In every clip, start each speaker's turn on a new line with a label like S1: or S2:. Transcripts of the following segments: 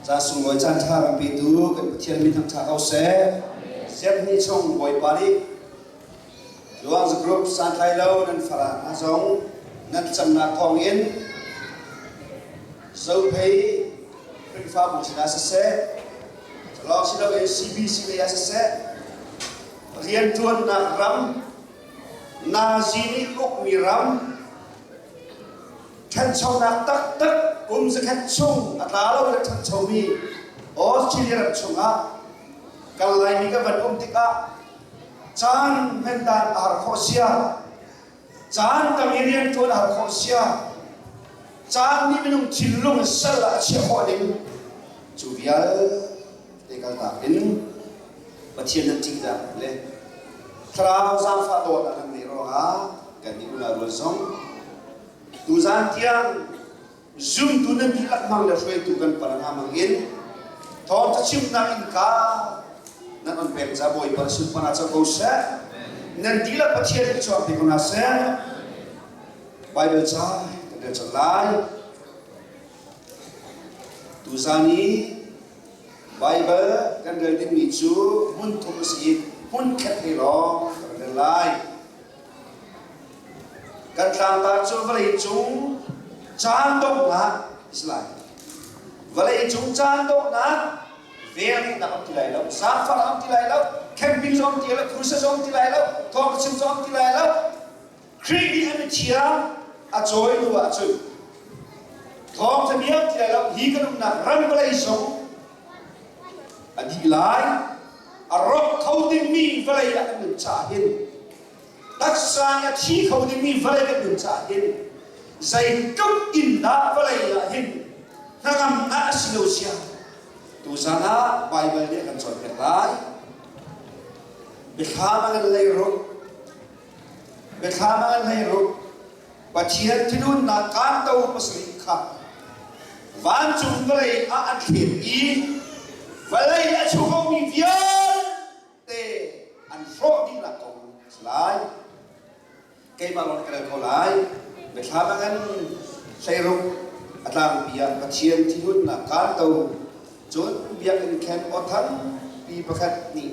S1: Ca sunglawi caan ṭha ram petu kan Pathian min thangṭha ko seh. Siangni chong Bawipa nih Luang Group santhlai lo nan fara hna zong nan camnak kong in zophei Khrihfabu sinah siseh, lawng si loin CBC lei ah siseh, rianṭuannak ram Nazi nih ukmi ram ṭhanchonak taktak kum zakhat chung a tla lo kan ṭhanchomi Australia ram chungah kan Laimi kan van um tikah caan hmendan a har khawh sia, caan tam i rian ṭuan a har khawh sia, caan nih minung thinlung sal ah a chiah khawh ding cu vialte Te kaltak in Pathian nan ṭihter le thlarau zaangfah dawt a kan ngeih ruangah kan nih unau rual zong tuzaan tiang zumtu nan dihlak mang le hruaitu kan paranga mang in thawng cachimnak innka nan on pek ca bawipa na sunpon ah co ko seh nan dihlak pathian nih chuak te ko hna seh Bible ca kan rel cang lai tuzaan i Baibal kan rel dingmi cu hmun thum a si i hmunkhat he lawng kan rel lai. Kan tlangtar cu vawleicung caan donghnak a si lai. Vawleicung caan donghnak vel nih nak an ti lai lo, zaangfah an ti lai lo, camping zong ti lai lo, crusade zong ti lai lo, thawngchim zong ti lai lo, Khrih nih an i chia, a cawi hnu ah cun thawngtha vialte ah hi kan umnak ran vawlei zong a dih lai, a rawk kho dingmi vawlei ah kan nun caah hin, taksa nih a thi kho dingmi vawlei kan nun caah hin, zeitluk in dah vawlei ah hin hnangamnak a si lo sia, tuzan ah Baibal nih a kan cawnpiak lai. Biathlam ah nan leiruk, Biathlam ah nai rup. Pathian thilunnak kanto pasarih kha vancung vawlei ah an thlen i vawlei a chuvomi vialte an hrawh dihnak ko a si lai. Keimah lawng ka rel ko lai. Biathlam ah in hleiruk a tlangpi ah Pathian thilunnak kanto Cun biakinn khen aw thangpi pakhat nih,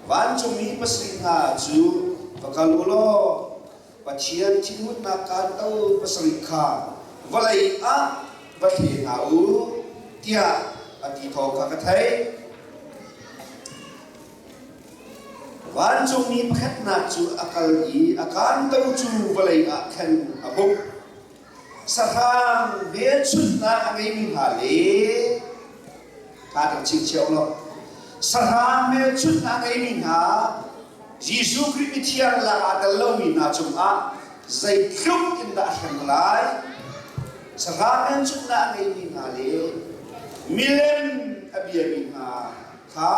S1: Vancungmi pasarih hna cu va kal u law Pathian thinhunnak kaan tel pasarih kha vawlei ah va thle hna u, tiah a ti thawng kha ka theih. Vancungmi pakhatnak cu a kal i a kaanto cu vawlei ah khan a hmuh. sahrang velchunhnak a ngeimi hna le hla kan chim cio lo sahrang velchunhnak a ngeimi hna Jesuh Khrih mithiang lak aa tel lomi hna cungah zeitluk in dah a hrem lai sahrang velchunhnak a ngeimi hna le milem a biami hna kha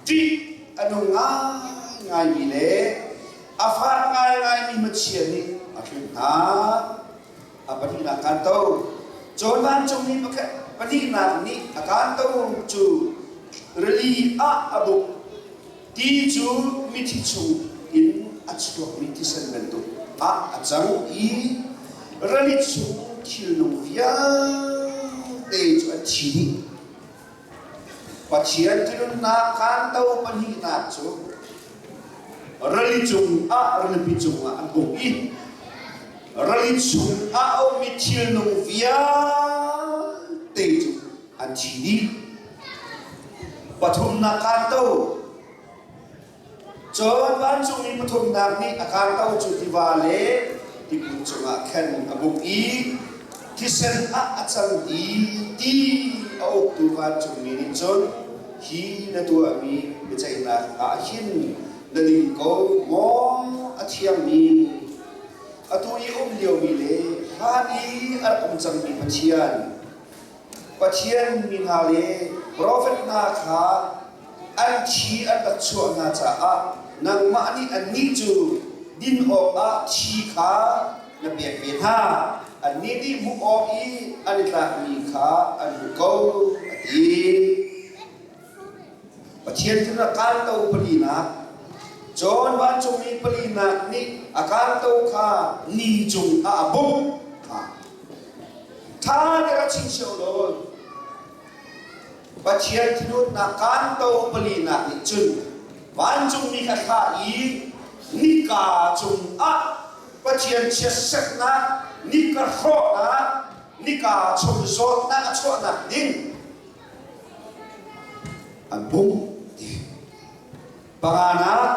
S1: ṭih a nung ngaingaimi le A fak ngaingaimi Pathian nih a hrin hna. A pahnihnak kan to. Cun vancungmi pakhat pahnihnak nih a kan to cu rili ah a buk. Ti cu mithi chung in a chuakmi thisen bantuk ah a cang i rali chung thilnung vialte cu an thi dih. Pathian ṭihnunnak kanto pahnihnak cu rali cungah ralpi cungah an um i rali chungah a ummi thilnung vialte cu an thi dih. Pathumnak kanto Cun vancungmi pathumnak nih a kar ko cu tiva le tibu cungah khan a buk i thisen ah a cang i ti a uktu vancungmi nih cun hi na tuahmi biaceihnak ah hin na ding ko maw a thiangmi atu i a um liomi le hlan i a rak um cangmi Pathian Pathian mi hna le profet hna kha an thi an rat chuah hna caah nangmah nih annih cu din awkah thi kha na pek ve hna. Annih nih hmuh awk i an i tlakmi kha an hmuh ko, a ti. Pathian sin a kanto palinak John vancungmi palinak nih a kanto kha ni cung ah a bawmh. Ṭha dera chim sio law Pathian thinhunnak kanto palinak nih cun vancungmi kha thlah i nika cung ah Pathian chiatseknak, nika hrawhnak, nika chung zawtnak a chuahnak ding A bungh panga nak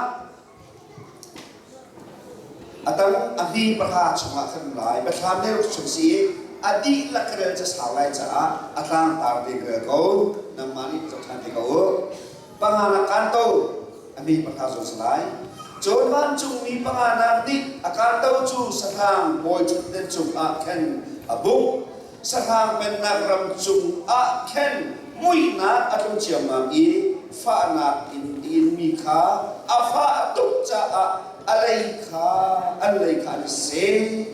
S1: a dang a hni pahra chungah kan um lai. Biathlam deuh chung si i a dihlak rel ca sau lai caah a tlangtar ve ve ko. Nangmah nih tuk ṭhan ve ko u. Panga nak kan to a hni pahra zong si lai. Cun vancungmi panga nak nih a kanto cu satang bawi ṭhutden cungah khan a bungh. Sahrang Pennak ram cungah khin muihnak a tlung ciammam i fahnak in a inmi kha a fah tuk caah a lei kha an lei kha an i seh.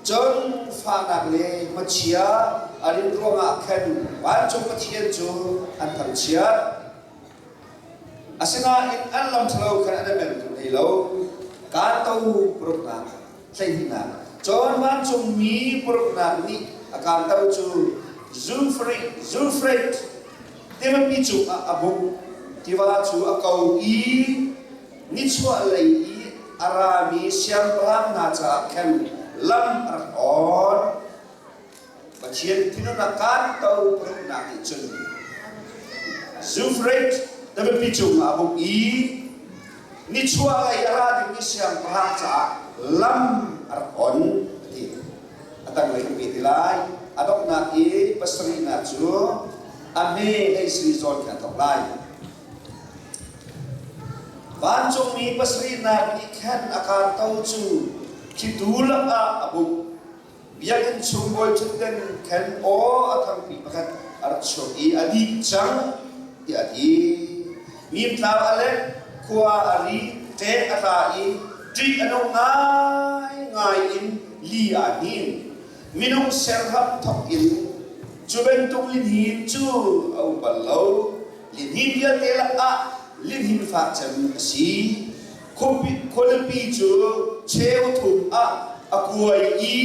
S1: Cun fahnak le hmachia a rin ruangah khan vancung Pathian cu an thangchiat. Asinain an lam ṭhalo khan an i mentu hlei lo. Kaan to paruknak hleihnihnak. Cun vancungmi puruknak nih a kanter cu zulfreit tivapi cungah a bungh, tiva cu a ko i nichuahlei i a rami siangpahrang hna caah khan lam a rak on. Pathian thinhun a kaan ko pahumnak nih cun Zufrate dabiapi cungah a buk i nichuahlei a ra dingmi siangpahrang caah lam a rak on a ti. A tanglei kan ve ti lai. A donghnak i pasarihnak cu a hme hei si zawn kha a thawk lai. Vancungmi pasarihnak nih khan a kaan to cu khitu lakah a buk. Biakinn chung bawiṭhutden ṭhen aw a thangpi pakhat a rak chuak i a dih cang tiah a ti. Hmimtlau a lek, khua a ri, ṭek a tla i ṭih a nung ngaingai in li aa hnin. Minung serham thawk in cu bantuk lihnin cu a um bal lo. Lihnin vialte lakah lihnin fak cem a si. khualipi cu cheu thum ah a kuai i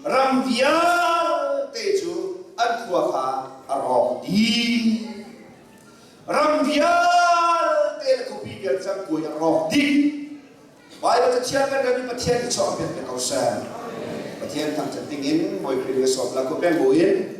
S1: ram vialte cu an khua kha a rawk dih. Ram vialte le khuapi vialte cu an kuai a rawk dih. Baibal Cathiang kan rel i Pathian i chawm pengmi ko seh. Pathian thangṭhat dingin Bawi Khrih nih a sawm lak u peng buin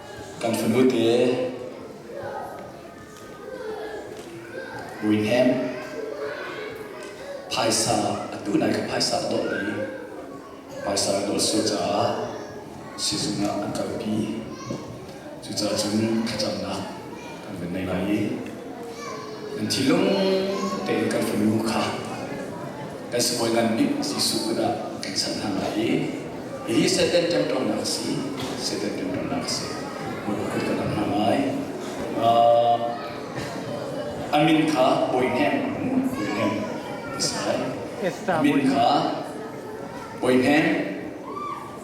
S1: Kan fanu te Winham phaisa atu nai ka phaisa a dawh i phaisa ka dawh sual caah sizung ah an kalpi. Cucacun thlacamnak kan van nei lai i kan thinlung tein kan fanu kha kan sibawi ngan nih Jesuh kut ah kan san hna lai i hihi Satan ṭemṭamnak a si Satan ṭemṭamnak a si Bawi kut kan rak hna lai a min kha Boihnem Boihnem a si lai a min kha Boihnem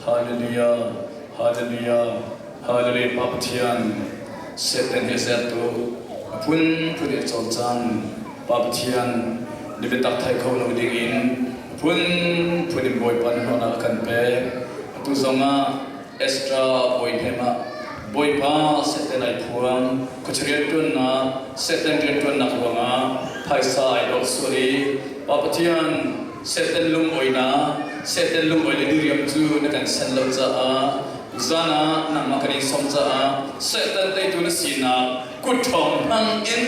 S1: Hallelujah, Hallelujah, Hallelujah, Pathian, Satan hi sertu, a phunphun i cawn caan, Pa Pathian, ni biatak thai kho lo ding in phunphun in Bawipa nih hnawhnak a kan pek. Atu zong ah Esdra bawi hnem ah Bawipa Satan ai phuang, khuachia rianṭuannak, Satan rianṭuannak ruangah phaisa ai dawt sual i Pa Pathian, Satan lungawinak, Satan lungawi le diriam cu na kan sanh lo caah zan ah nangmah kan in sawm caah Satan teitu na sinak kutṭhawng hmang in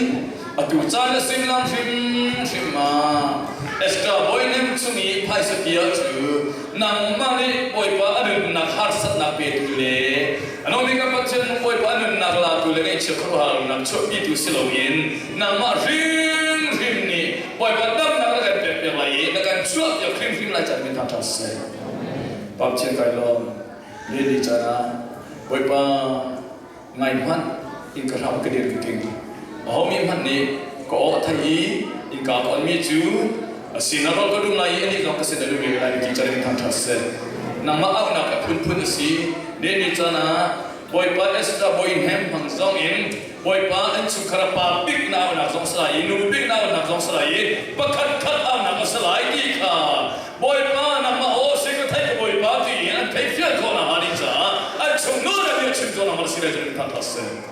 S1: atu caan na suimilam hrimhrim ah Esther Boynem chung i phaisa bia cu nangmah nih Bawipa a nunnak harsatnak petu le Alomi kan Pathian hawipa nunnak latu le ngaihchia khuaruahharnak chuahpitu si loin nangmah hrimhrim nih hawipa damnak na kan pekpiak lai i na kan chuahpiak hrimhrim lai canmi hna ṭha si. Pathian kai lawm, le ni caan ah hawipa ngai hmanh in ka hram ka dir ka ting. Ahomi hmanh nih ka aw a thei i innka ka onmi cu Asi, na ruah ka duh lai i anih zong ka sin a lut ve lai ti ṭarin thangṭhat siseh, nangmah auhnak a phunphun a si. Nihin ni caan ah Bawipa Esther Boinhem hmang zongin Bawipa an chungkhar a pa bik na aunak zong a si lai i nu bik na aunak zong a si lai i pakhat khat aunak a si lai ti kha Bawipa nangmah aw si ka theih ka Bawipa ti in an theih fial khawh nakhnga ni caah an chungnuar a bia chim khawh nakhnga si lai cun in thangṭhat siseh.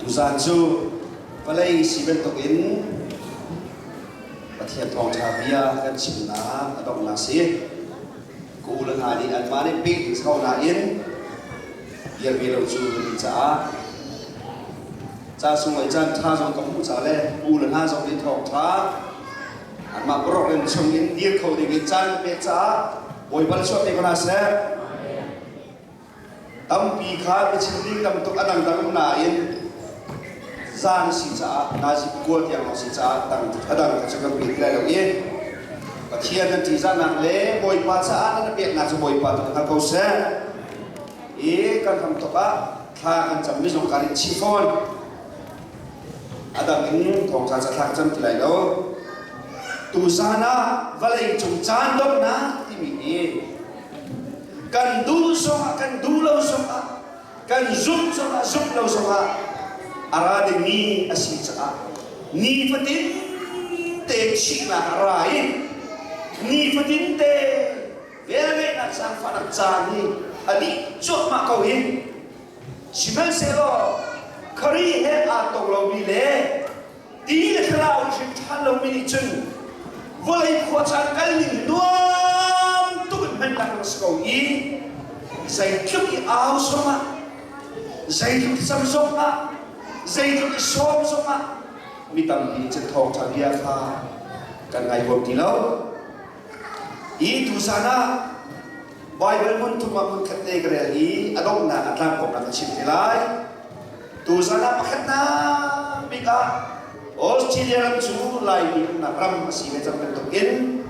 S1: Tuzaan cu vawlei si bantukin Pathian thawngṭha bia kan chimnak a donghnak si. Ka u le hna nih anmah nih peh ding ko nain bia ve lo cu kan ti caah ca sunglawi caan ṭha zong kan hmuh ca le u le hna zong nih thawngṭha anmah boruak in chung in dir kho ding in caan kan pek caah Bawi bal chuah te ko hna seh. Tampi kha biachim ding tam tuk a dangdang nain zan a si caah nazi kual tiang a si caah a dang cu kan pek lai lo i Pathian an ṭihzahnak le Bawipa caah nan peknak cu Bawipa tu hngal ko seh i kan ram tuk ah thla kan cammi zong kan in chih fawn a dang in thawngṭha ca thlak cam ti lai lo tu zan ah vawlei cung caan dawtnak timi hi kan duh zongah kan duh lo zongah kan zumh zongah zumh lo zongah a ra dingmi a si caah nifatin te chihnak a ra i nifatin te velvenak zaangfahnak caan hi a dih cuahmah ko hi sihmanhsehlaw khari he aa tong lomi le Ti le thlarau hrim ṭha lomi nih cun vawlei khuacaan kalning nuam tuk in hman tlak a rak si ko i zeitluk i au zongah, zeitluk i cam zongah, zeitluk i sawm zongah mi tampi nih cun thawngṭha bia kha kan ngai huam ti lo. Hi tuchan ah Baibal hmunthum ah hmunkhat te ka rel i a donghnak a tlang kong ka chim te lai. Tuchan ah pakhatnak bik ah Australia ram cu Laimi umnak ram a si ve cang bantuk in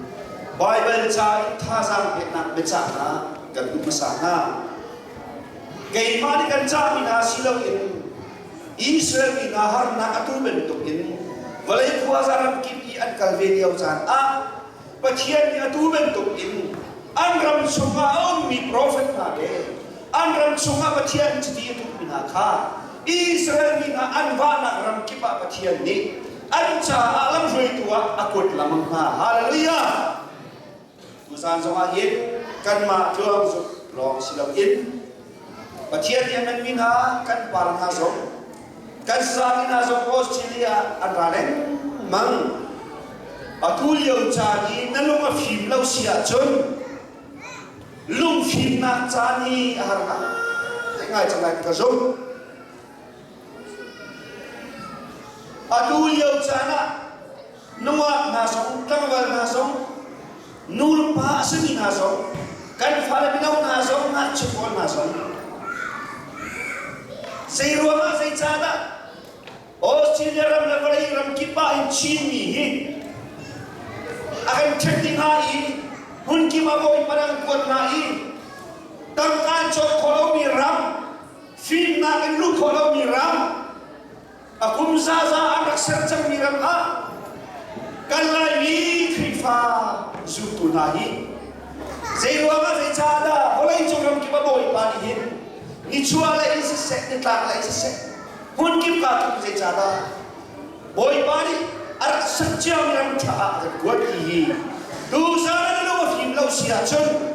S1: Baibal ca i thazaang peknak biacah hna kan duh hmasa hna. Keimah nih kan cahmi hna si loin Israel mi hna harnak a tu bantuk in vawlei khuaza ramkip i an kal ve lio caan ah Pathian nih a tu bantuk in an ram chungah a ummi profet hna le an ram chungah Pathian chiti a duhmi hna kha Israel mi hna an vahnak ramkip ah Pathian nih an caah lamhruaitu ah a kuat lengmang hna. Hallelujah! Tucaan zongah hin kanmah cuauzuk lawng si loin Pathian nih a hmanmi hna kan pa hna zong kan zaangin hna zong Australia ah an ra lengmang. Atu lio caan i na lung a fim lo si ahcun lungfimnak caan hi a har ngai. Ngai cang lai ka zumh. Atu lio caan ah nungak hna zong, tlangval hna zong, nu le pa a simi hna zong, kan fale mino hna zong, ngakchia pawl hna zong, zei ruangah, zei caan ah Australia ram le vawlei ram kip ah hin Chinmi hi a kan khenh ding hnga i hmun kip ah bawi parang kuat hna i tangka cawk khawh lomi ram, fimnak in luh khawh lomi ram, a kum zaza an rak ser cangmi ram ah kan Laimi Khrihfa zultu hna hi zeiruangah zeicahdah vawleicung ram kip a bawipa nih hin nichuah lei in siseh nitlak lei siseh hmun kip ka tum zeicahdah bawipa nih a rak sat ciami ram ṭha ah a rak kuat ti hi tuzan an lo a fim lo si ahcun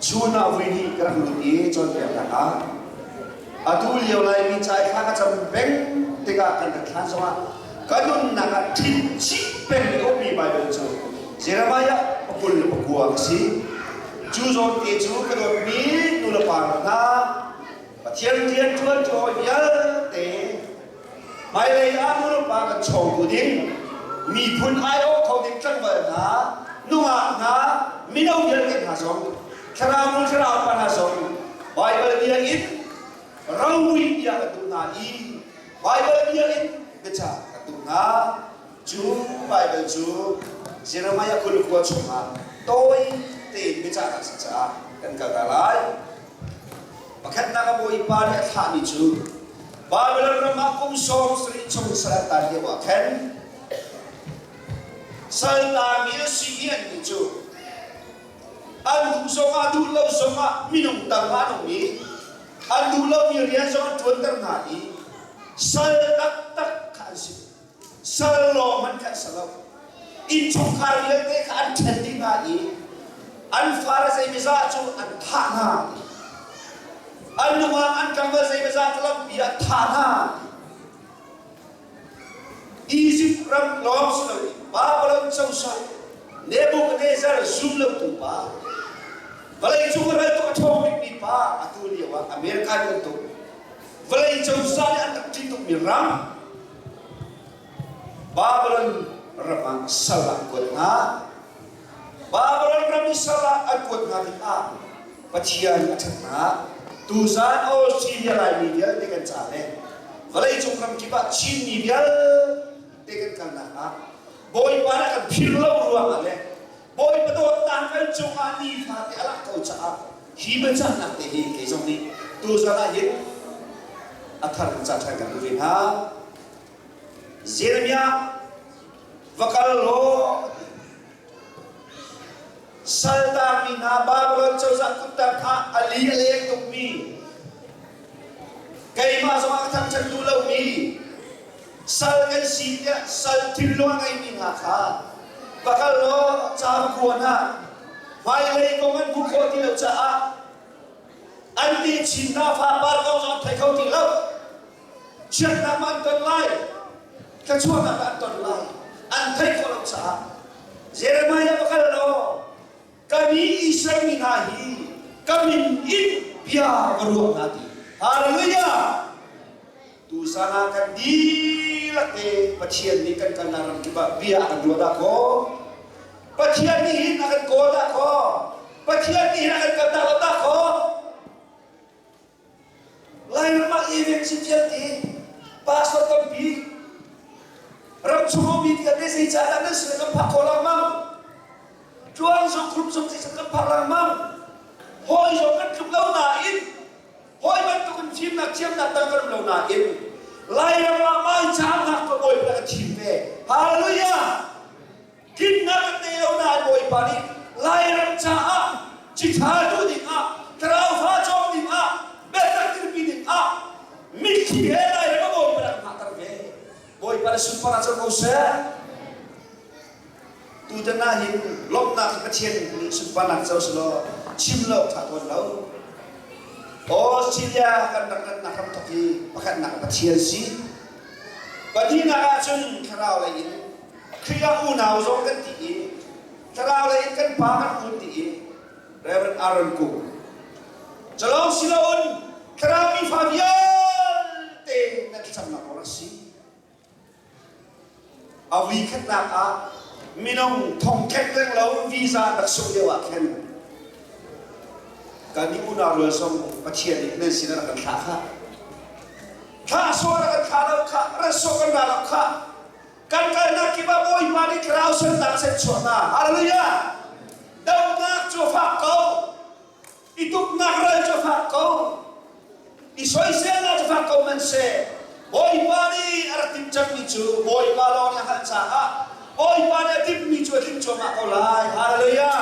S1: Chun ah voi hnih ka rak lut i cawnpiaknak ah atu lio Laimi ca i hla ka cam peng tikah kan rak thlan zongah ka nunnak ah thinchih peng komi Baibal cu Jeremiah pakul le pakua a si. Cu zawnte cu ka dawtmi nulepa hna Pathian rian ṭuan cu hawi vialte Hmailei ah Murpa kan cho bu ding miphun aiawh kho ding tlangval hna, nungak hna, mino vialte hna zong, thlarau nu thlarau pa hna zong Baibal biakinn roui tiah kan duh hna i Baibal biakinn biacah kan duh hna. Cu Baibal cu Jeremiah kul khua chungah tawi tein biachahnak si caah kan kalter lai. Pakhatnak ah Bawipa nih a thlahmi cu Babilon ram ah kum sawm sarih chung sal an tar lio ah khan saltar mil simian mi cu an hum zongah duh lo zongah minung tangah an um i an duh lomi rian zong an ṭuanter hna i sal taktak kha an si. sal lawng hmanh sa lo. Innchungkhar vialte kha an ṭhen dih hna i an fale zeimizaah cu an thah hna. An lungah an ṭambal zeimizaah cu lampi ah thah hna. Izipt ram lawng si loin Babilon cozah Nebuchadnezzar zum lotu pa, vawlei cung ral tuk a ṭhawng bikmi pa atu lioah America nih an tuk. Vawlei cozah nih an rak ṭih tukmi ram, Babylon ram ah sal ah an kuat hna. Babylon ram i sal ah an kuat hna tikah Pathian a ṭhat hna. Tuzan aw Syria laimi vialte kan ca le vawleicung ramkip ah Chinmi vialte kan kalnak ah Bawipa nih a kan philh lo ruangah le Bawipa dawtnak kan cungah nifate a lang ko caah hi biacahnak te hi kei zong nih tuzan ah hin a thar in ca ṭhan kan duh ve hna. Jeremiah, va kal law saltangmi hna Babilon cozah kutter ah a li a leng tukmi keimah zongah a thangṭhat duh lomi Sal kan si tiah sal thilnung a ngeimi hna kha va kal law cakuan ah hmailei kong an hmuh khawh ti lo caah an nih chin hna fapar kong cu an thei kho ti lo. Chiatnak ma an ton lai, thluachuahnak ah an ton lai an thei khawh lo caah Jeremiah va kal law ka mi Israel mi hna hi ka min in bia va ruah hna ti. Hallelujah! Tuzan ah kan dihlak i Pathian nih kan kalnak ramkip ah bia a kan ruah dahkaw, Pathian nih hin a kan kawl dahkaw, Pathian nih hin a kan kaltak lo dahkaw, Lairam ah event si vialte pastor tampi ramchung um mi vialte zeicah dah nan sin kan phak khawh lengmang, tluang zong group zong zeicah kan phak lengmang, hawi zong kan tluk lo nain Hawi bantuk in fimnak thiamnak tang ka duh lo nain Lairam ah vanchangnak ka Bawipa a chim ve. Hallelujah! Dinnak an ngei lo nain Bawipa nih Lairam caah cithatu dingah, tlauhra cawk dingah, biatak dirpi dingah mitthli he Lairam a Bawipa rak hngahter ve. Bawipa na sunparah cun ko seh. Tutan ah hin lawmhnak hi Pathian nih sunparnak co selaw chim lo kha a tuan lo. Australia kan ram gannak ram thok hi pakhatnak Pathian si. Pahnihnak ah cun thlarau lei in Khrihfa unau zong kan ti i thlarau lei in kan pa kan hun ti i Reverend Aaron Kung. Calong siloin thlarau mi fa vialte nan thlacamnak awk a si. A vuikhatnak ah minung thongkek reng lo visa rak sungh lio ah khin kan i unau rual zong Pathian nih nan sinah rak kan thlah kha. Thlahsuah rak kan thlah lo kha, ratsuah kan ra lo kha, kan kalnak kip ah Bawipa nih thlarau sunnak set chuah hna. Hallelujah! Dohnak cu fak ko. I tuknak ral cu fak ko, i soiselnak cu fak ko man seh. Bawipa nih a rak timh cangmi cu Bawipa lawng nih a hngalh caah Bawipa nih a timhmi cu a timh cuahmah ko lai. Hallelujah!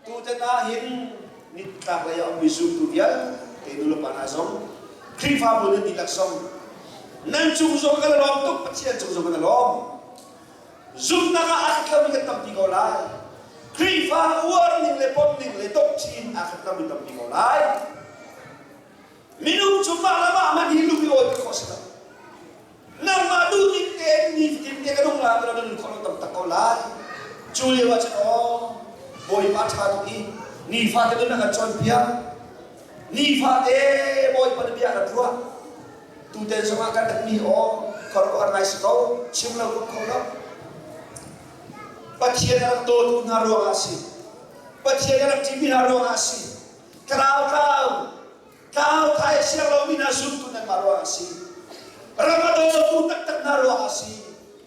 S1: Tutan ah hin nitlaklei ah a ummi zultu vialte nulepa hna zong, Khrihfabu nan dihlak zong, nan cung zong in a lawm tuk, Pathian cung zong in a lawm. zumhnak ah a rat lomi kan tampi ko lai. Khrihfa uar ning le pom ning le dongh chin ah kan tam mi tampi ko lai. Minung cu mah le mah man hi lung i awl pek khawh si lo. Nangmah duhdim tein nitin te ka nung la tira nun khawh lo tam tak ko lai. Cu lio ah cun aw Bawipa ṭha tuk i nifate nun a kan cawnpiak. Nifate Bawipa nih bia a kan ruah. Tutan zongah kan rat mi aw khuaruahhar ngai si ko chim lo kum kho lo. Pathian a rak dawtu hna ruangah a si. Pathian a rak ṭih mi hna ruangah a si. Tlau tlau tlau thai a siang lo mi hna zumtu nan mah ruangah a si. Ram a dawtu taktak hna ruangah a si.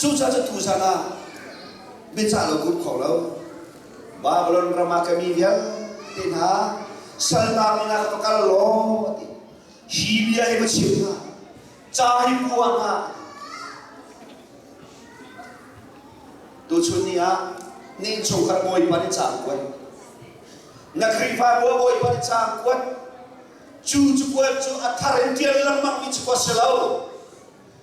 S1: Cucaah cu zan ah biacah lo gut kho lo. Babylon ram ah ka mi vialte hna salnau in ah va kal law a ti. Hi bia hi va chim hna. Ca hi hua hna. Tuchun ni ah ning chungkhar bawipa nih ca kuat. Na Khrihfa bua bawipa nih ca kuat. Cu cu kuat cu a thar in tial lengmang mi cu kuat si lo.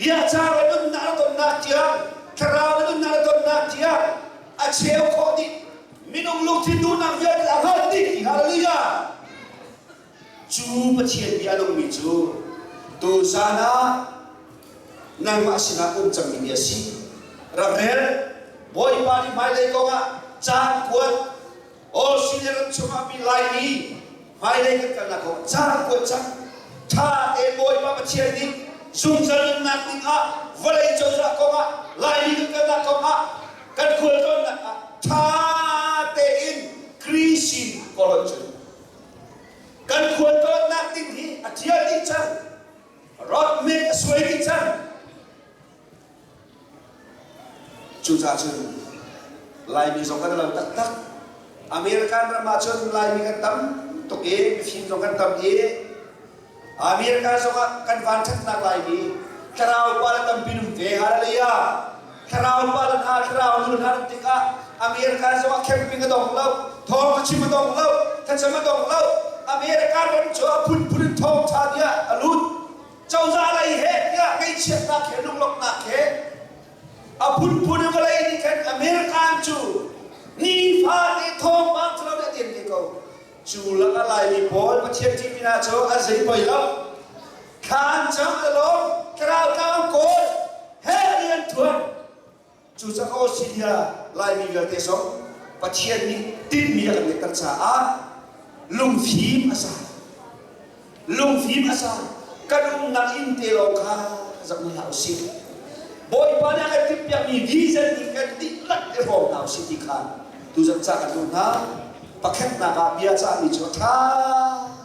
S1: Hiahca na nunnak na tonnak tiang, thlarau na nunnak na tonnak tiang a cheu khawh nih minung lungthin duhnak vialte a hlawt dih. Hallelujah! Cu Pathian bia a nungmi cu tuzan ah nangmah sinah um cangmi bia a si. Ramel, Bawipa nih hmailei kongah caan kuat, Australia ram chungah mi lai i hmailei kan kalnak kong caan kuat cang. Ṭha tein Bawipa Pathian nih zungzal nunnak dingah vawlei cozah kongah Laimi kan kalnak kongah kan khualtlawnnak ah ṭha tein Greece in ka rawnh cun kan khualtlawnnak ding hi a ṭial dih cang. Rock make a suai dih cang. Cucaah cun Laimi zong kan i lo taktak. American ram ahcun Laimi kan tam tuk i Chin zong kan tam i America zong ah kan vanṭhatnak Laimi thlarau pa le tampi an um ve. Hallelujah! Thlarau pa le hna, thlarau nu hna rat tikah America zong ah camping a dong lo, thawng thachim a dong lo, thlacam a dong lo. American ram cu a phunphun in thawngṭha tiah a lut. cozah lei he tiah kei chiatnak he lunglawmhnak he a phunphun in vawlei nih khan American cu nifate thawngpang cu lo nih a tiam te ko cu lakah laimi pawl Pathian ṭihmi hna cu a zei poi lo thlan cam le lawng ka ralkau kawl he rian ṭuan Cucaah Australia Laimi vialte zong Pathian nih tinhmi a kan pekter caah lungfim a sa. Lungfim a sa. Kan umnak inn te lawng kha rak hmu hlah usih. Bawipa nih a kan timhpiakmi vision in kan dihlak i hrawm hna usih ti kha tu zat ca kan duh hna. Pakhatnak ah bia cahmi cu a ṭha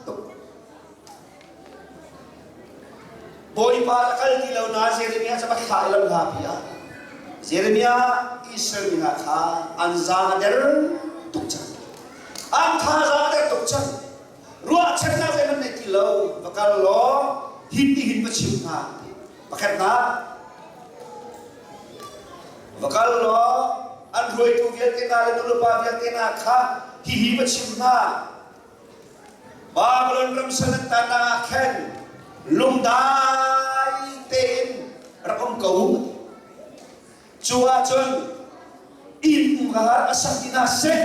S1: tuk. Bawipa na kal ti lo na Jeremiah cu rak thlah lo hna bia. Jeremiah Israel mi hna kha an zan a der tuk cang. An thazaang a der tuk cang. Ruahchannak zeihmanh nei ti lo. Va kal law hin nihin va chim hna. Pakhatnak, va kal law an ruaitu vialte hna le nulepa vialte hna kha hihi va chim hna. Babylon ram sanak tanah ah khan lungdai tein rak um ko. Cu ahcun inn ka har a sak ti hna seh.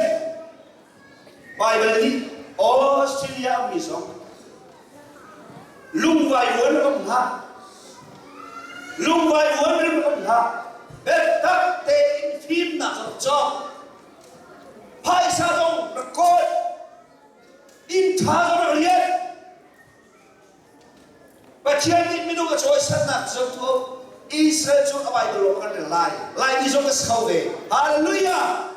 S1: Bible nih Australia mi zong lungvai vuan ram hna lungvai vuan rim ram hna biatak tein fimnak zong cawk phaisa dong na kawl inn ṭha dong na rian Pathian nih minung a cawisannak cu cu Israel cu a Baibal lawng kan rel lai Laimi zong a so ve Hallelujah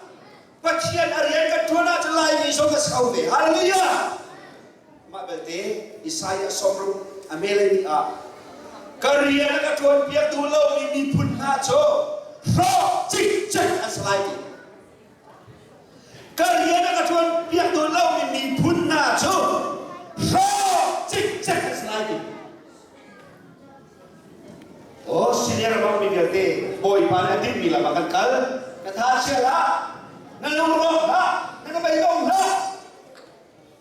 S1: Pathian a rian kan ṭuan ahcun Laimi zong a so ve Hallelujah Mah belte Isaiah sawmruk a melei ah ka rian ka ṭuanpiaktu lomi miphun hna cu hrawk cikcek an si lai ti. Ka rian a ka ṭuanpiaktu lomi miphun hna cu hrawk cikcek an si lai ti. Aw sining a bangmi vialte Bawipa nih a dinmi lam ah kan kal. Ka tha chial hlah, na lungrawk hlah, na ka beidong hlah.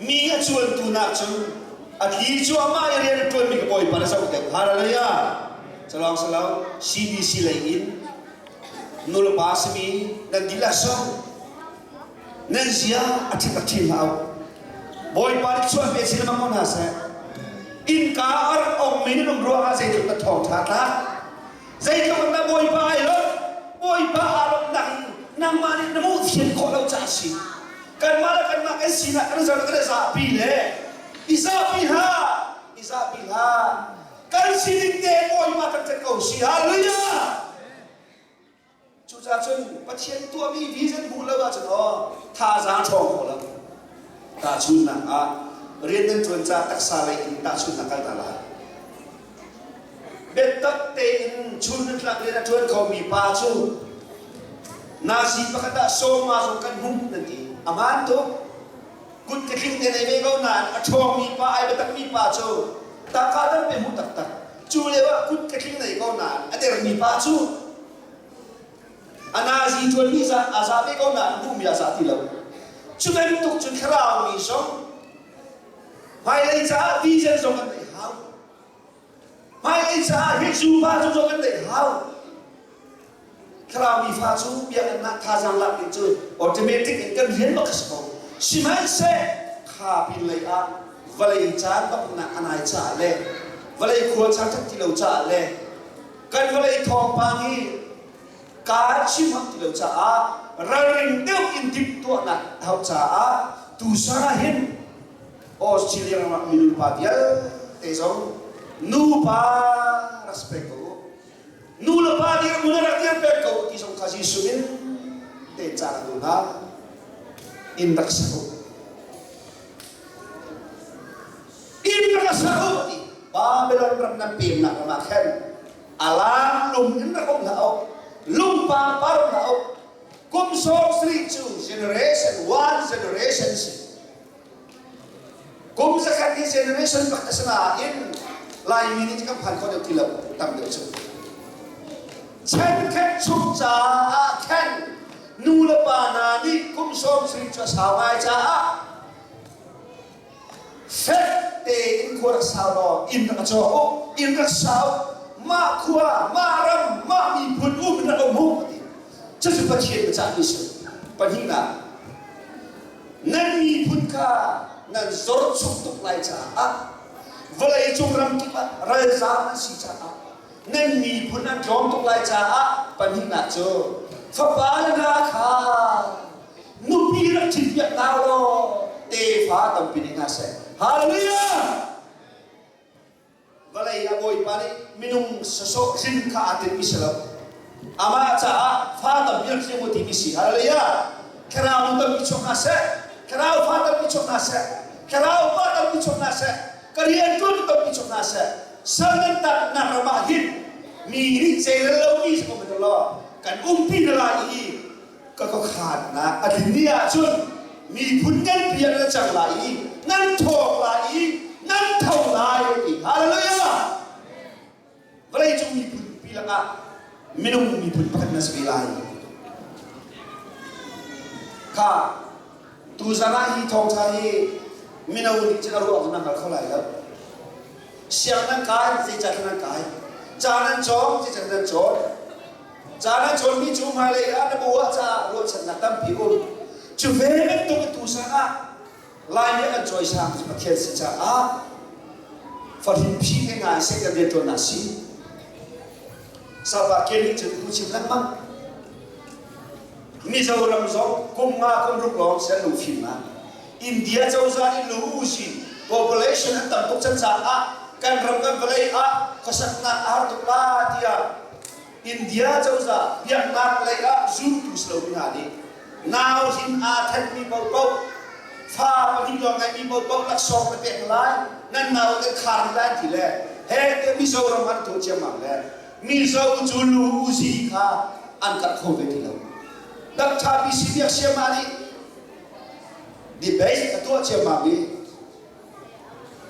S1: Mi a cuantu nak cu a thi cuahmah i rian ṭuanmi ka Bawipa na zoh dek. Hallelujah! Calawng sa lo, CBC lei in nulpa simi nan dilah song nan zia a ṭhit tak chin hlah u. Bawipa nih chuan pe si lemmang ko hna seh. Innka a rak ongmi na lungruah ah zeitluk na thawng ṭha tlak. Zeitlukin na Bawipa ai lo. Bawipa aa lo nang, nangmah nih na mawhchiat khawh lo caah a si. Kanmah le kanmah kan sinah kan zarh le zapi le i zapi hna, i zapi hlah. Kan sining te Bawipa kan tlanh ko si. Halleluja! Cucaah cun Pathian tuahmi vision hmuh lo ahcun aw thazaang ṭhawng kho lo. Tahchunhnak ah rian nan ṭuan caah taksa lei in tahchunhnak kal hna lai. Biatak tein chun nan tlak rian a ṭuan khomi pa cu nazi pakhat ah sawma zong kan hmu nan ti. A hmaan tuk. Kut ka tling ne nei ve ko nain a ṭhawngmi pa, ai biatakmi pa cu taka tampe hmuh taktak Cu lio ah kut ka tling lei ko nain a dermi pa cu a nazi ṭuanmi a za ve ko nain duhmi a za ti lo. Cu bantuk cun thlarau mi zong hmailei caah vision zong an nei hau. Hmailei caah Jesuh pa tu zong an nei hau. thlarau fa cu biaknak thazaang lak ding cu automatic in kan hlen bak a si ko sihmanhseh kha pinlei ah vawlei caan baknak a nai caah le vawlei khua caan ṭhat ti lo caah le kan vawlei thawngpang hi kaa chim ham ti lo caah ralring deuh in timhtuahnak a hauh caah tusa hin Australia ram ah mi nupa vialte zong nupa respect ko u Nu le pa nih u le rak ian peng ko ti zong kha Jesuh in pek cang ko hna. Inn rak sak u. Inn rak sak u ti Babylon ram nan pemnak ram ah khan alang lung in rak um hlah u. Lung pangpar um hlah u. Kum sawm sarih cu generation one generation si. Kum zakhat hi generation pat a si nain Laimi nih kan phan kho deuh ti lo tam deuh cu. Thenkhat chung caah khan nu le pa hna nih kum sawm sarih cu a sau ngai caah fek tein khua rak sau law inn rak caw u inn rak sau mah khua mah ram mah miphun um rak um u ti cucu Pathian biacahmi si pahnih nak nan miphun kha nan zor chung tuk lai caah vawleicung ram kip ah ralzaam an si caah nan miphun an tlawm tuk lai caah pahnihnak cu fapa le hna kha nupi rak ṭhit piak hna law tefa tampi nei hna seh hallelujah Vawlei a Bawipa nih minung sasawh hrin kha aa timmi si lo. Amah caah fa tampi a thiam u timi si. Halleluja! Thlarau tampi chuak hna seh. Thlarau fa tampi chuak hna seh. Thlarau fa tampi chuak hna seh. Ka rianṭuan tampi chuak hna seh. Sal nan tat-nak ram ah hin mi nih zeirel lomi si ko hmanh u law kan umpi hna lai i ka ka khaatnak a tlin ni ahcun miphun nganpi ah nan cang lai i nan thawng lai i nan tho lai a ti hallelujah vawleicung miphun pi lakah minung miphun pakhat na si ve lai kha tuzan ah hi thawngtha hi mino nih cun a ruah cu nan hngal kho lai lo siang nan kai zeicah nan kai caan nan cawng zeicah nan cawn Caan a cawnmi cu hmailei ah na bu ah caah ruahchannak tampi um. Cu ve bantuk a tu sanah Lai nih an cawisang cu Pathian si caah farin phi he ngai seh kan rianṭuannak si. Salpa ke nih cun bu chim lengmang. Mizoram zong kum nga kum ruk lawng ser lu fim ah India cozah in lu usih population an tam tuk can caah kan ram kan vawlei ah khuasaknak a har tuk la tiah India cozah biaknak lei ah zultu si lomi hna nih nau hrin aa thenmi paohpaoh, fa pahnih lawng ngeihmi paohpaoh laksawng na pek lai, nan naute khar rih lai ti le hete Mizoram an tuah ciammam le Mizo cu lu-zi kha an karh kho ve ti lo. Dr. PC Biak Siama nih debate a tuah ciammam i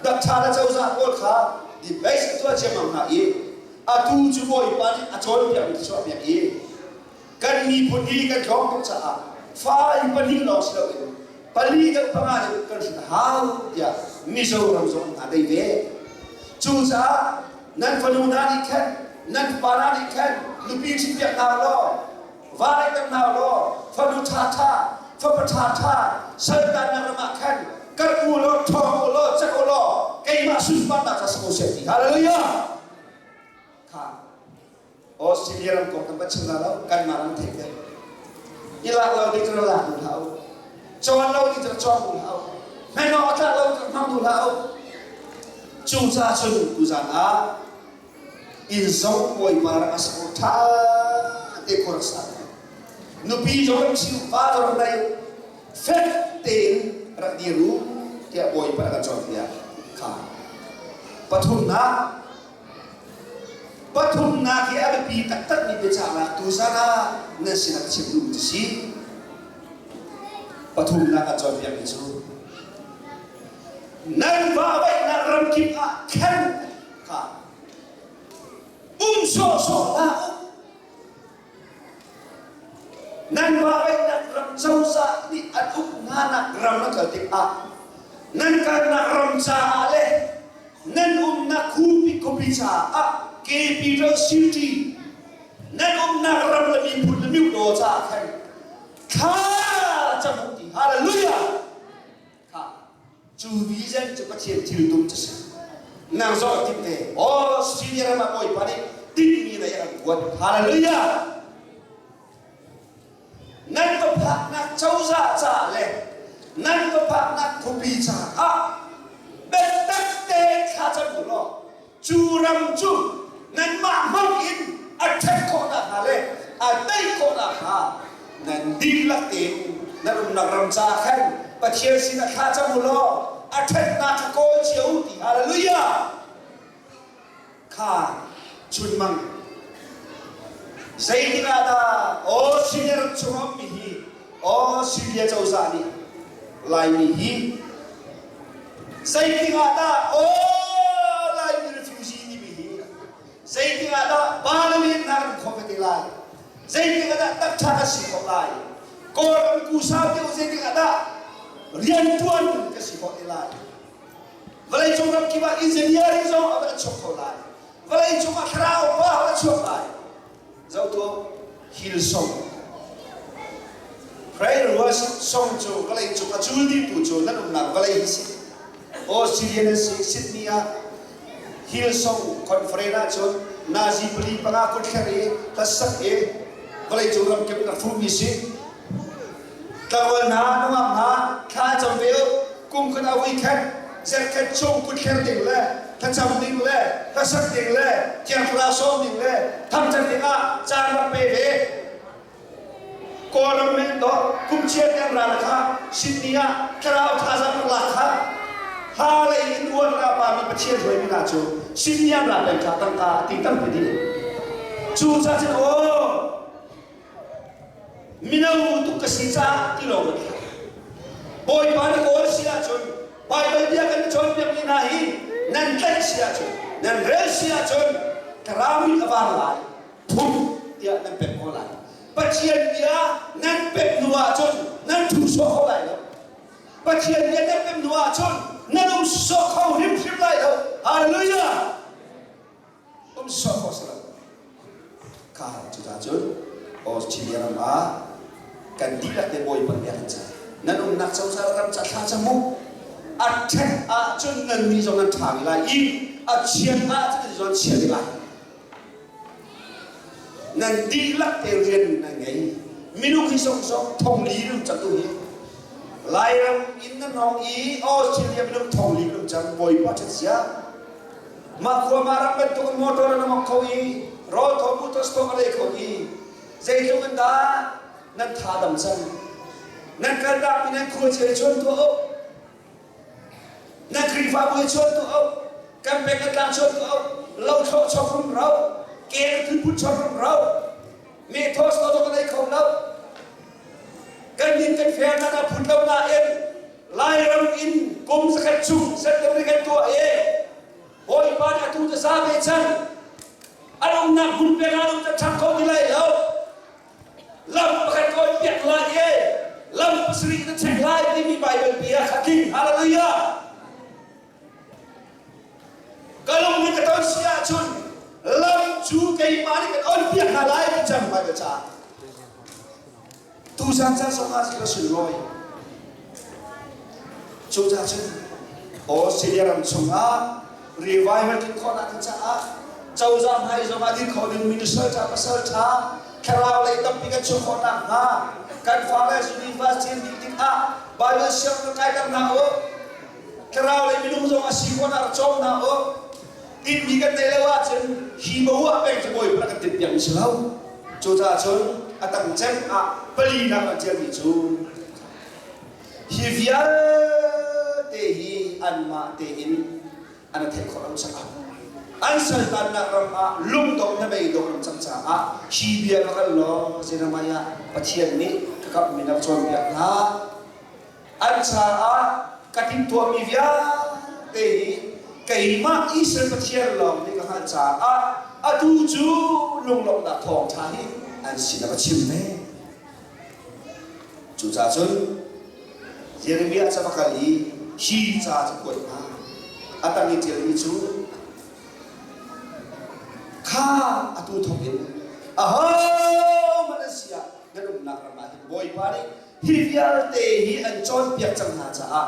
S1: Datṭha le cozah pawl kha debate a tuah ciammam hna i atu cu Bawipa nih a cawnpiakmi thluachuahpiak i kan miphun hi kan tlawm tuk caah fai pahnih lawng si loin pali deuh panga deuh kan hrin a hau tiah Mizoram zong aa dei ve. Cucaah nan fanu hna nih khan nan pupa hna nih khan nupi ṭhitpiak hna u law Vale kan nau law fanu ṭhaṭha, fapa ṭhaṭha, saltannak ram ah khan kal u law ṭhawng u law cek u law keimah sunparnak ca sak u sih ti hallelujah kha Australia ram kong kan va chim la lo kanmah ram theih te i lak lo ding cun lak duh hlah u cawn lo ding cun cawn duh hlah u hnaih awk a tlak lo ding cun hmang duh hlah u cucaah cun tuzan ah Innzo bawipa rak a sako ṭha te khor a sa. Nupi zawn chiu va rak nei fek tein rak dir u tiah bawipa rak a cawnpiak kha. Pathumnak pathumnak hi a biapi taktakmi biacahnak tu zongah nan sinah chim duh ti si. Pathumnak a cawnpiakmi cu nan vahvaihnak ramkip ah khen kha um sawhsawh hlah nan Bahrain ram cozah nih an uk hna nak ram a kal tikah nan kalnak ram caah le nan umnak khupi khupi caah capital city nan umnak ram le miphun le miu caah khan thla camu ti hallelujah Cu vision cu Pathian thiltum cu si. Nang zoh tik te, Australia ram ah bawipa nih tinhmi lei a kan kuat. Hallelujah! Nan ka phaknak cozah ca le nan ka phaknak khuapi caah biatak tein thla cam u law Cu ram cu nanmah hmang in a ṭhat khawh nakhnga le a tei khawh nakhnga nan dihlak in na umnak ram caah khan Pathian sinah thla cam u law a ṭhatnak kha kawl cio u ti hallelujah! Kha chunmang. Zeitik ah dah, O Singer chungah ummi hi Australia cozah nih Laimi hi zeiting ah dah aw Laimi refugee timi hi zeiting ah dah Parliament hna kan khawm te lai zeiting ah dah takṭha kan si khawh lai Kawlram ku sau deuh zeiting ah dah rianṭuan kan si khawh te lai vawleicung ramkip ah engineering zong a va chuak kho lai vawleicung ah thlarau pa a va chuak lai Zoh tuah, thil song. Prayer worship song cu vawlei cung a cul dingtu cu nan umnak vawlei hi si. Australian an si, Sydney ah Hillsong Conference ahcun Nazi pali panga kut thler i hlassak hi vawleicung ramkip in a hrumi si. Tlakual hna nungak hna thla cam ve u kum khan a ui khat zetkhat chung put thler ding le thlacam ding le hlasat ding le thiangthla sawm ding le thangṭhat dingah caan rak pe ve kawlram men to kumchia tiang ral kha Sydney ah thlarau thazaang rak lak kha ha lei in uar ka pa mi Pathian hruai mi hna cu Sydney an ra peng kha tangka a ti tam ve ding cu ca cun aw Mino tuk ka si caah ti lo ka ti. Bawipa na kawl si ahcun Baibal bia kan cawnpiakmi hna hi nan tlaih si ahcun, nan rel si ahcun, ka rami a var lai. Pum tiah nan pek ko lai. Pathian bia nan pek hnu ahcun nan thu sawh kho lai lo. Pathian bia nan pek hnu ahcun nan um sawh kho hrimhrim lai lo. Hallelujah! umsawh pasal kha cu ta cun Australia ram ah kan dihlak te bawipa nih a kan cah nan umnak cozah ram ca thla ca mu a ṭhek ahcun nan mi zong an ṭha lai i a chiat ahcun nan zong an chiat lai nan dihlak te rian nan ngei minung hi sawksawk thongli lum cang tu hi lairam in nan hong i Australia minung thongli lum cang bawipa ṭhat sia Mah khua ma ram bantuk in motor an ngok kho i rawl kho motors kho a dei kho i zeitluk in dah nan tha dam cang nan kaltak mi nan khuachia chuan tuah u nan khrihfabu i chuan tuah u kan pek a tlang chuan tuah u lo tho chokrum ro ke na thutput chokrum ro me thos to dok a nei kho lo kan nin kan fair nan a phut lo na in Lairam in kum zakhat chung certificate tuah i Bawipa nih atu tasa ve chan an umnak hmun pek ah lam ṭhat kho ti lai lo. Lam pakhat kawi piak lai i lam pasarih na check lai timi Baibal bia kha tling. Hallelujah! Ka lung nih ka ton si ahcun lam cu keimah nih ka ton piak hna lai ti cang vai ka ca. Tu sang sang song ah si ka sun roi. Cu ca cun Australia ram chungah revival tlin khawh nak caah cozah hmai zong ah dir khawh ding minister ca pasal ṭha thlarau lei tampi kan chuah khawh nak hnga kan falas university ding tikah Bible siang kan kai ter hna u. thlarau lei minung zong a si khawh ar cawm hna u tinmi kan neih lo ahcun hi bo ah pei cu bawi kan timh piak si lo cucaah cun a tang ceng ah palinak an tialmi cu hi vialte hi anmah tein an theih khawh lo sak an saltannak ram ah lungdong hnabei dong an cang caah hi bia ka kal law zenamai ah pathian nih ka kamhmi na cawnpiak hlah an caah ka timhtuahmi vialte hi keimah Israel Pathian lawng nih ka hngalh caah atu cu lunglawmhnak thawng ṭha hi an sin a va chim ve. Cucaah cun Jeremiah cu a va kal i hi ca cu kuat hna a tang i ṭialmi cu kha atu thawkin ahohmanh an si ah nan umnak ram ah hin Bawipa nih hi vialte hi an cawnpiak cang hna caah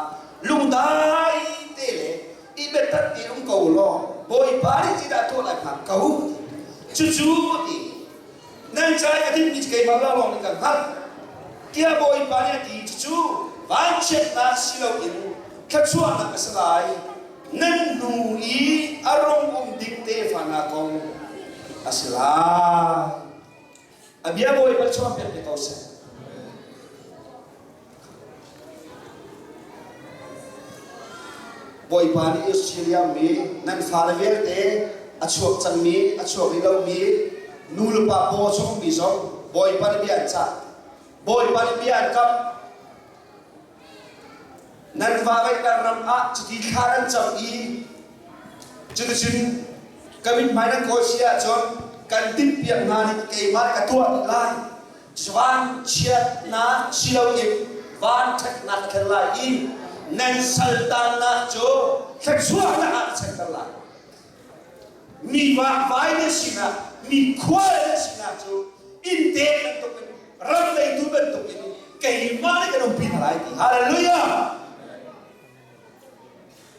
S1: lungdai te le i biatak i um ko law Bawipa nih ti dah tuah lai hnga ko cucu ti nan ca i a dikmi cu keimah la lawng nih ka hngalh tiah Bawipa nih a ti cucu vanchiatnak si loin thluachuahnak a si lai nan hnu i a rung um ding tefa hna kong a si lai A bia Bawipa chuah piak ko seh. Bawipa nih Australia mi nan fale vialte a chuak cangmi a chuak rih lomi nulepa paw chungmi zong Bawipa nih bia an cah. Bawipa nih bia an kamh. Nan va veihter ram ah cuti thla an cam i cuticun ka mithmai nan kawl si ahcun kan timhpiak hna nih keimah ka tuah dih lai. Vanchiatnak si loin vanṭhatnak khen lai i nan saltannak cu thluachuahnak ah a chanter lai. Mi vakvai na sinak, mi khua na sinak cu innte bantuk in, ram leitu bantuk in keimah le kan umpi hna lai ti. Hallelujah!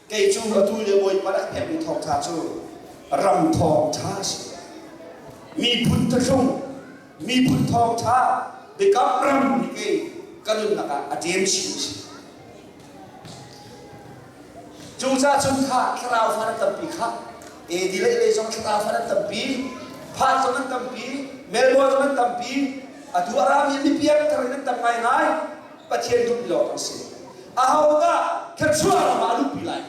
S1: Kei cu atu le Bawipa a hnemmi thawngtha cu ram thawng tha a si. Miphun thahrung Miphun thawngtha biakam ram nih kei ka nunnak ah a dem chin si. Cucahcun kha thlarau fa an tampi kha edilei lei zong thlarau fa an tampi, Phat zong an tampi, Melbourne zong an tampi, atu a rami mipi an thar in an tam ngaingai, Pathian duhmi lawng kan si. Ahodah thluachuah ram ah a luhpi lai?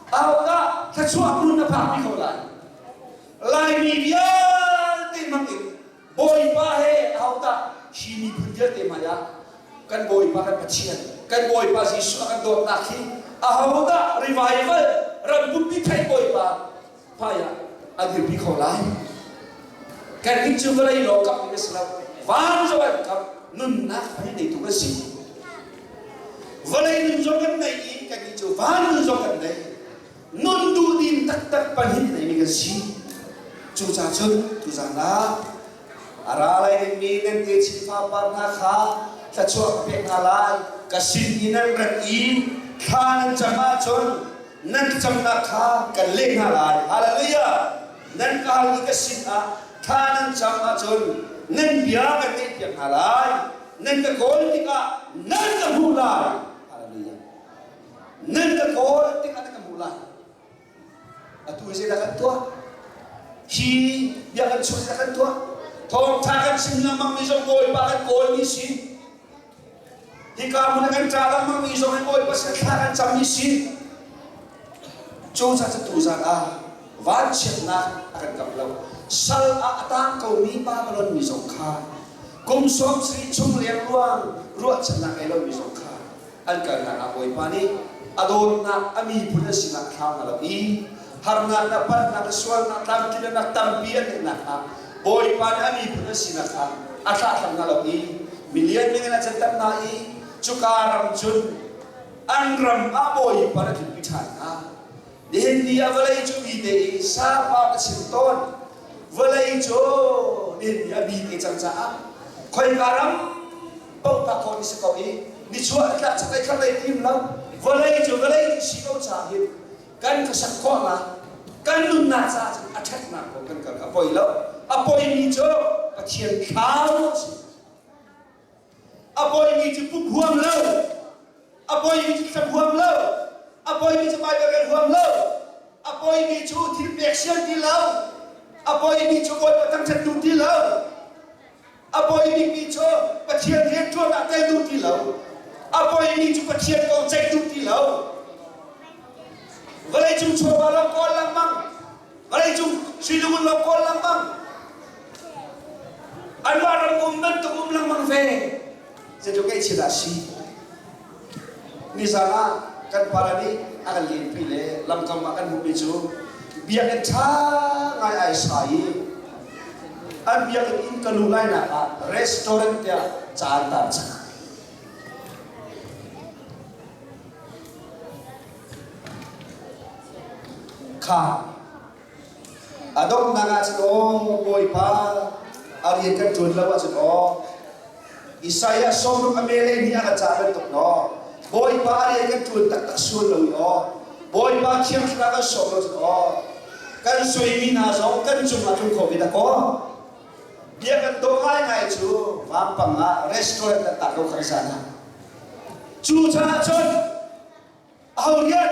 S1: Ahodah thluachuah hmun na phakpi ko lai? Laimi vialte hmang in Bawipa he ahodah hi miphun vialte hmaiah kan Bawipa kan Pathian, kan Bawipa Jesuh a kan dawtnak hi ahodah revival, ram pumpi theih Bawipa hmaiah an dirpi kho lai. Kan nih cu vawlei law kam mi a si lo. Van zong an kam nunnak hmai neitu kan si. Vawlei nun zong kan nei i kan nih cu van nun zong kan nei. Nun duh dim taktak pahnih nei mi kan si. Cucacun tuzan ah a ra lai dingmi nan te chin fapa hna kha thluachuah ka pek hna lai. Ka sin i nan rat i thla nan cam ahcun Nan thlacamnak kha kan leh hna lai, Haleluijah! Nan kau i ka sinah thla nan cam ahcun nan bia kan ngaihpiak hna lai, nan ka kawl tikah nan ka hmuh lai, Haleluijah! Nan ka kawl tikah nan ka hmuh lai. Atu hi zeidah kan tuah? Hi bia kan chuah zeidah kan tuah? Thawngṭha kan chim lengmangmi zong Bawipa kan kawlmi si. Hika hmun ah kan ṭa lengmangmi zong hi Bawipa sin thla kan cammi si. Cucaah tu zan ah vanchiatnak a kan kamh lo. Sal ah a tang komi Babylon mi zong kha, kum sawmsarih chung leng ruang ruahchannak ngei lomi zong kha an kal hlan ah Bawipa nih a dawtnak a miphun an sinah thlam na loh i harnak le palhnak le sualnak tlamtlinnak tampi an ngeih nakhnga Bawipa nih a miphun an si nakhnga a thlahthlam hna lo i milian ding in a can tak hna i cuka ram cun an ram ah Bawipa na tlunpi ṭhan hna nihin ni ah vawlei cu mi te i sapa ka chim tawn vawlei cu nihin ni ah mi te cang caah khoika ram bautak ko ni si ko i nichuah tlak chaklei khanglei him lo vawlei cu vawlei nih si lo caah hin Kan ka sak khawhnak kan nunnak caah cun a ṭhatnak kong kan kal a poi lo. A poimi cu Pathian thlarau a si. A poimi cu pum huam lo. A poimi cu thlum huam lo. A poimi cu Baibal kan huam lo. A poimi cu thil pek siam ti lo. A poimi cu Bawipa thangṭhattu ti lo. A poi bikmi cu Pathian rianṭuan ah tel duh ti lo. A poimi cu Pathian kong ceih duh ti lo. Vawleicung chawva lam kawl lengmang. Vawleicung hrilugun lam kawl lengmang. An mah ram um bantuk um lengmang ve. Zeitluk ngaih thil ah si. Nizaan ah kan pale nih a kan lenpi le lamkam ah kan hmuhmi cu biakinn ṭha ngai ai sa i an biakinn inn ka luh lainak ah restaurant tiah caan tar cang. Kha A donghnak ahcun aw Bawipa a rian kan ṭuan lo ahcun aw Isaiah sawmruk a melei nih a ra ca bantuk maw Bawipa a rian kan ṭuan taktak sual lo i aw Bawipa Thiang Thlarau kan sawm lo cu aw kan suaimi hna zong kan cungah tlung kho ve ta kaw bia kan dawh ngaingai cu vampang ah restaurant kan tar ko khang zan ah cu caah cun aho rian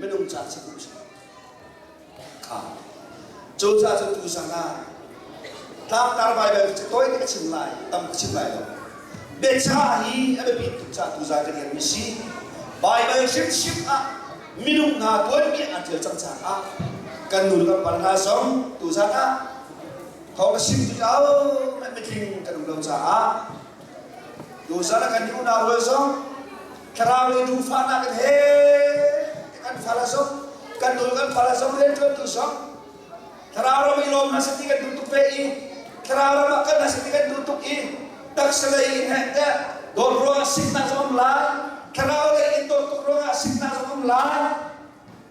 S1: minung ca cu tu sang kha cu ca cu tu sang ah tlangtar baibal cu toi nih a chim lai tam ka chim lai lo biacha hi a biapit tuk ca tu zai ka tial mi si baibal hrimhrim ah minung hna tuanbia an ṭial cang caah kan nu le kan pa hna zong tu zan ah thawng na sim tuk mitling kan um lo caah tu zan ah kan unau rual zong Thlarau lei tuufanak kan he kan fala zong kan dul kan fala zong rianṭuantu zong thlarau ram i lawm hmasati kan duh tuk ve i thlarau ram ah kan hmasati kan duh tuk i taksa lei in heh teh dawt ruangah siknak zong um lai thlarau lei in dawt tuk ruangah siknak zong um lai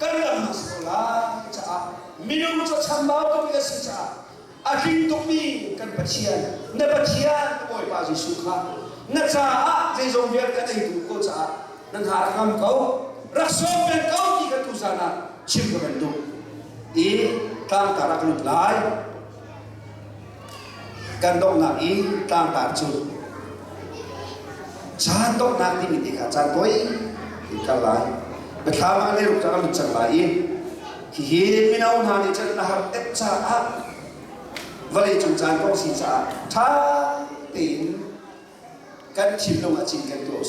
S1: kan ram a si ko lai caah minung cu chambau tuk i a si caah a tling tukmi kan Pathian, na Pathian na Bawipa Jesuh kha na caah zeizong vialte kan ei duh ko caah na hna rak ngam ko, rak sawm peng ko ti kan tuzan ah chim ka van duh i tlangtar ah ka lut lai. Kan donghnak i tlangtar cu caan donghnak timi ti kha caan poi in kal lai. Biathlamang le ruk an cang lai i hihi mino hna nih cun na har tek caah vawlei cung caan kong si caah ṭha tein kan thinlung ah cinken tuah usih.